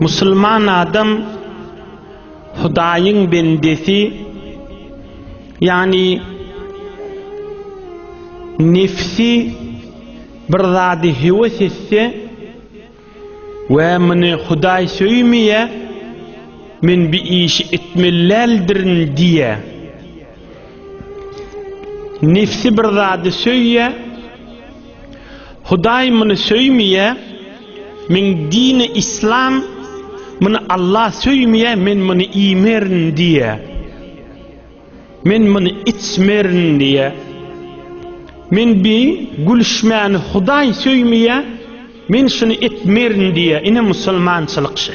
Musulman adam Hudaýyň bendesi, ýagny nefsi bir zady heves etse we muny Hudaý söýmeýä, men bi işi etmeli däldirin diýä. Nefsi bir zady söýýä, Hudaý muny söýmýä meň dini islam muny Allah söýmýä men muny iýmerin diýä men muny içmerin diýä men bi gülüşmäni Hudaý söýmýä men şuny etmerin diýä ine musulmançylyk şe.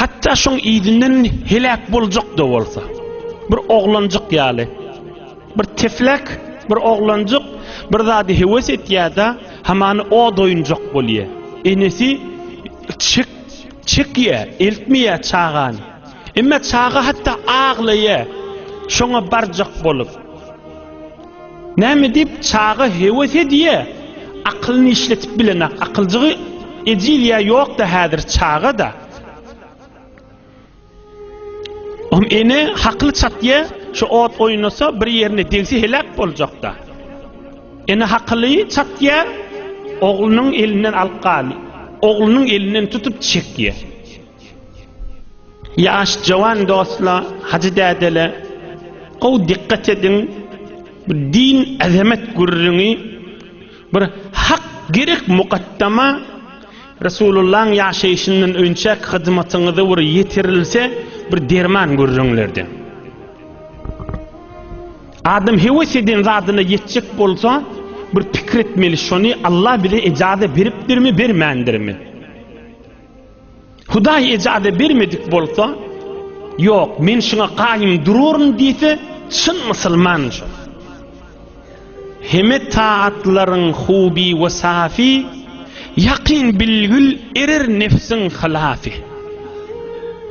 Hatda şoň izinden heläk boljak-da bolsa. Bir oglanjyk ýaly. Bir teflek, bir oglanjyk bir zady heves etýär-de, hamany o doýunjak bolýar. Enesi çek, çekýär, eltmeýär çagany. Emma çaga hatda aglaýar, şoňa barjak bolup. Näme diýip, çaga heves edýä, akylyny işletip bilenak, akyljygy ejil ýa ýok-da häzir çaga-da. Oň ene hakyly çatýa, şu ot oýnasa, bir ýerine degse heläk boljak-da. Ene hakyly çatýa, oglunyň elinden alyp gal, oglunyň elinden tutup çekýä. Ýaş jawan dostla hajy dädele gowy dikkat ediň bu din azamet gürrüňi bir hak gerek mukaddama Resulullaň ýaşaýşyndan önçäk hyzmatyňyza bir ýetirilse bir derman gürrüňlerden. Adam heves eden zadyna ýetjek bolsa bir pikir etmeli şony Allah bize ejaze beripdirmi bermändirmi. Hudaý ejaza bermedik bolsa, ýok, men şuňa gaýym duraryn diýse, çyn musulman şo. Heme taatlaryň huby we safy, ýakyn bilgül erer nefsiň hylafy.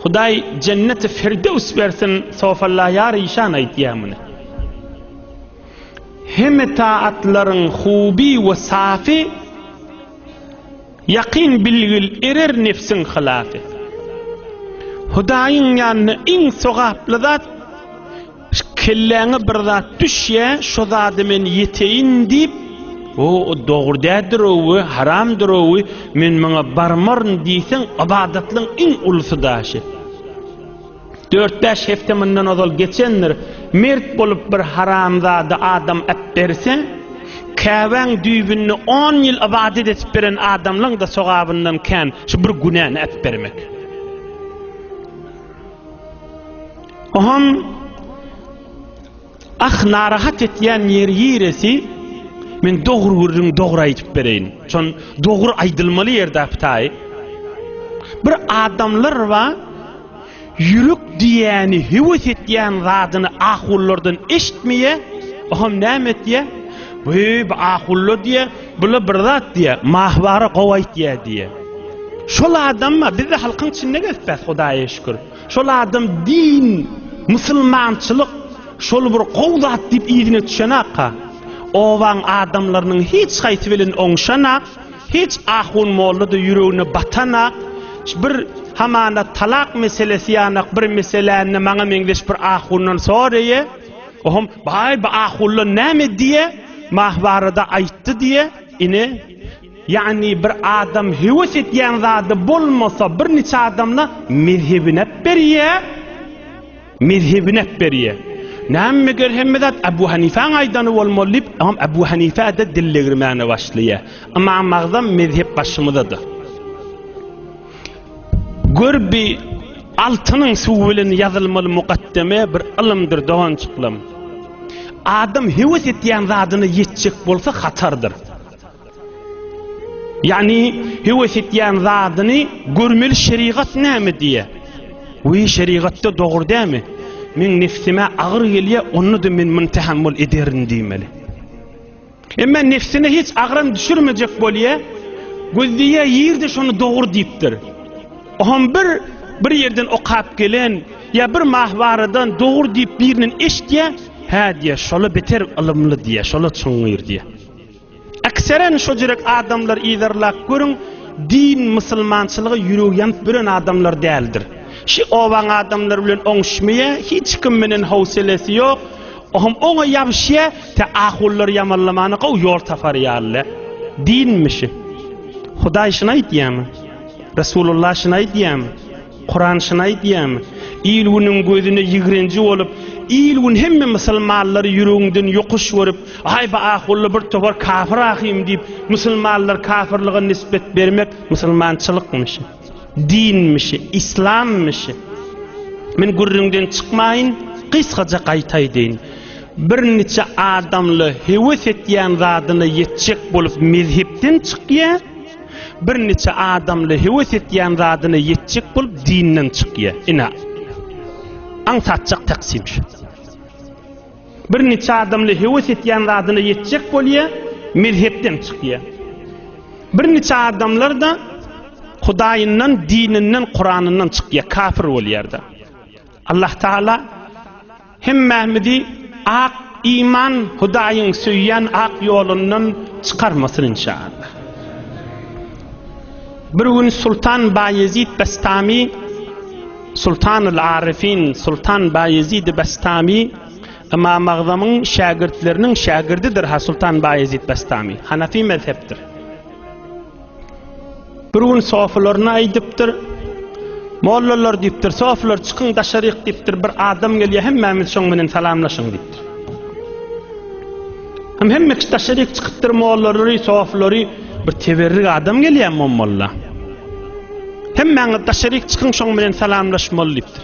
Hudaý jenneti firdewis bersin, sofalla ýar işan aýtýar muny. Heme taatlaryň huby we safy, Ýakyn bilgil erer nebsiň hylasy. Hudaýyň ýanynda iň sogaply zat kelläňe bir zat düşýä şo zady men ýeteýin diýip o dogry dädirowy haramdyrowy men muňa barmaryn diýseň ybadatlyň iň ulusy daşy. Dört-bäş hepde mundan ozal geçendir, mert bolup bir haramzada adam äpberse, Käbäň düýbünde on ýyl ybadat edip beren adamlaň-da sogabyndan kän şu bir günäni äpbermek. Oham Ah narahat etýän ýeri ýiresi men dogry gürrüň dogry aýdyp bereýin şon dogry aýdylmaly ýerdä pytaý bir adamlar ba ýürek diýýäni höwes etýän zadyny ahullardan eşitmeýä oham näme etýä weý bu ahullar diýýä bula bir zat diýýä mahbara gowy aýtýä diýýä şol adam ba bizde halkyň içinde gezpäs hudaýa şükür Şol adam din, musulmançylyk şol bir gowy zat diýip yzyna düşenakka, obaň adamlarynyň hiç haýsy bilen oňşanak, hiç ahun molla-da ýüregine batanak, bir hamana talak meselesi ýanak bir meseläni maňa meňzeş bir ahundan soraýa, ohm, baý bu ahunlar näme diýe, mah barada aýtdy diýe, ine, Ýagny bir adam höwes etýän zady bolmasa bir niçe adamla mezhebinep berýä, mezhebinep berýä. Näme meger hemme zat Abu Hanifäň aýdany bolmaly diýip Ymam Abu Hanifä-de dil degirmäne başlaýa. Ymam Agzam mezhep başymyzada. Gör bi altynyň suwy bilen ýazylmaly mukaddeme bir ylymdyr doganjyklam. Adam höwes etýän zadyna ýetjek bolsa hatardyr. Ýagny höwes etýän zadyny görmeli şerigat näme diýýär. We şerigatda dogry dämi? Men nefsime agyr gelýä, onda da men muny tahammül ederin diýmeli. Emma nefsine hiç agram düşürmejek bolýa, gözleýä ýerde şony dogry diýipdir. Ohm bir bir ýerden okap gelen ýa bir mahbaradan dogry diýip birinden eşitýä, hä diýä, şola beter ylymly diýä, şola çuňňur diýä. Ekseren şo jürek adamlar yzarlap görüň din musylmançylyga ýüregi ýanyp büren adamlar däldir. Şi obaň adamlary bilen oňuşmaýa hiç kim menen howselesi ýok ohm oňa ýabyşýa tä ahullar ýamanlamana gowy ýol tapar ýaly dinmi şi. Hudaý şyny aýtýamy? Resulullah şyny aýtýamy? Kuran şuny aýdýarmy? Il-günüň gözüne ýigrenji bolup, il-gün hemme musulmanlary ýüregiňden ýokuş görüp, aýba ahunly bir topar kafir ahym diýip, musulmanlary kafirlige nisbet bermek musulmançylykmyşy? Dinmişi? Yslammyşy? Men gürrüňden çykmaýyn, gysgaja gaýta aýdaýyn. Bir niçe adamla heves etýän zadyna ýetjek bolup mezhepden çykýar. Bir niçe adamly hewes etýän zadyna ýetjek bolup dinden çykýa. Ine. Aňsatjak taksim şu. Bir niçe adamly hewes etýän zadyna ýetjek bolýa, mezhepden çykýa. Bir niçe adamlar da Hudaýyndan, dininden, Kuranyndan çykýa, kafir bolýar da. Allah Taala hemmämizi ak iman Hudaýyň söýýän ak ýolundan çykarmasyn inşaallah. Bir gün Sultan Baýezid Bestami Sultanul Arifin Sultan Baýezid Bestami Ymam Agzamyň şägirtleriniň şägirdidir ha Sultan Baýezid Bestami Hanafi mezhepdir. Bir gün sofylaryna aýdypdyr. Mollalar diýipdir, sofylar çykyň daşaryk diýipdir, bir adam gelýär, hemmämiz şoň bilen salamlaşyň diýipdir. Hem hemme kişi daşaryk çykypdyr, mollalary, sofylary bir teberrik adam gelýär molla. Hemmäňiz daşaryk çykyň şoň bilen salamlaşmaly diýipdir.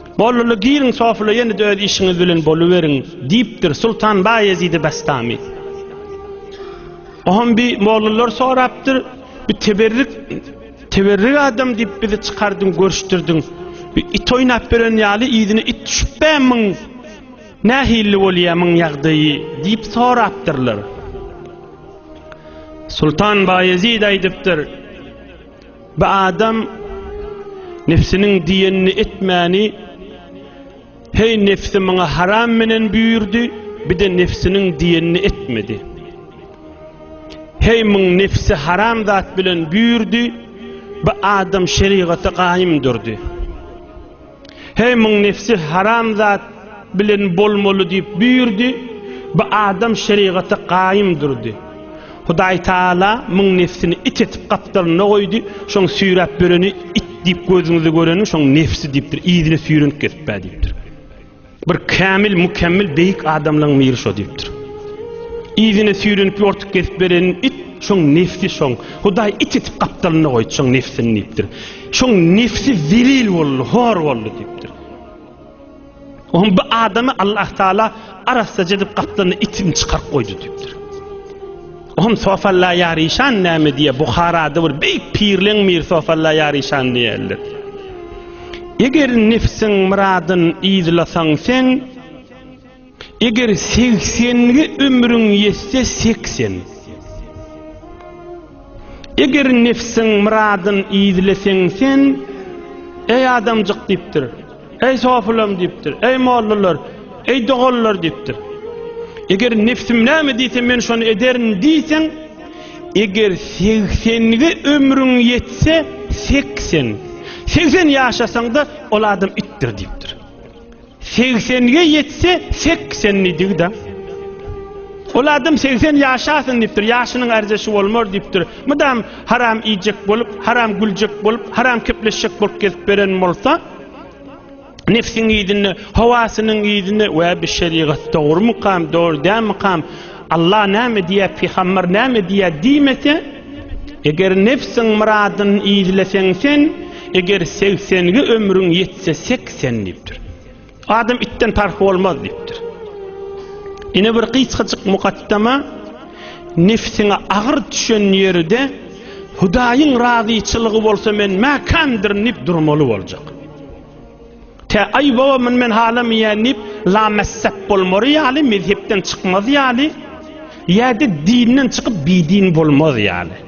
Bolduly giriň sofula ýene-de öz işiňiz bilen boluberiň, diýipdir Sultan Baýezidi Bastami. Oňam bi mollalar sorapdyr, bi teberrik, teberrik adam diýip bizi çykardyň, görüşdirdiň. Bi it oýnap beren ýaly yzyna it düşüp bämmiň? Nähilli bolýa myň ýagdaýy? diýip sorapdyrlar. Sultan Baýezid aýdypdyr. Bu adam Nefsiniň diýenini etmäni Heý Nefsi maňa haram menen büýürdi, bide Nefsiniň diýenini etmedi. Heý muň Nefsi haram zat bilen büýürdi, bu adam şerigata gaýym durdy. Heý muň nefsi haram zat bilen bolmaly diýip buýurdy. Bu adam şerigata gaýym durdy. Hudaý Taala muň nefsini it etip gapdalynda goýdy. Şoň süýräp böreni it diýip gözüňize göreniň şoň nefsi diýipdir. Yzyna süýrenip gezip bä diýipdir. Bir kämil, mükemmel, beýik adamlaň miri şo diýipdir. Yzyna süýrenip ýortuk gezip beren it şoň nefsi şoň. Hudaý it etip gapdalyna goýdy şoň nefsini diýipdir. Şoň nefsi zelil boldy, hor boldy diýipdir. Oň bu adamy Allah Taala arassa edip gapdalyna itini çykaryp goýdy diýipdir. Hum sofalla ýaryşan näme diýe Buharada bir beýik pirleň mir sofalla ýaryşan diýerler. Eger nefsiň myradyn yzlasaň sen Eger segsengi ömrüň ýetse seksen Eger nefsiň myradyn yzleseň sen Eý adamjyk diýipdir. Eý sofylam diýipdir. Eý mollalar, eý doganlar diýipdir. Eger nefsim näme diýse men şony ederin diýseň, eger segsenige ömrüň ýetse, segsen. Segsen ýaşasaň-da ol adam itdir diýipdir. Segsenige ýetse, segsen diýdigi-de. Ol adam segsen ýaşasyn diýipdir, ýaşynyň arzeşi bolmar diýipdir. Mydam haram iýjek bolup, haram güljek bolup, haram kepleşjek bolup gezip beren bolsa, Nefsiň yzynda, hawasynyň yzynda we bi şerigat dogrumykam, dogry dämikam, Allah näme diýýä, pygamber näme diýýä diýmese, eger nefsiň myradyny yzleseň sen, eger 80 ge ömrüň ýetse 80 diýipdir. Adam itden parh bolmaz diýipdir. Ine bir gysgajyk mukaddama nefsiňe agyr düşen ýerde Hudaýyň razyçylygy bolsa men mäkämdirin diýip durmaly boljak. Tä aý baba muny men halamaýan diýip lamessep bolmary ýaly mezhepden çykmaz ýaly ýa-da dinden çykyp bidin bolmaz ýaly.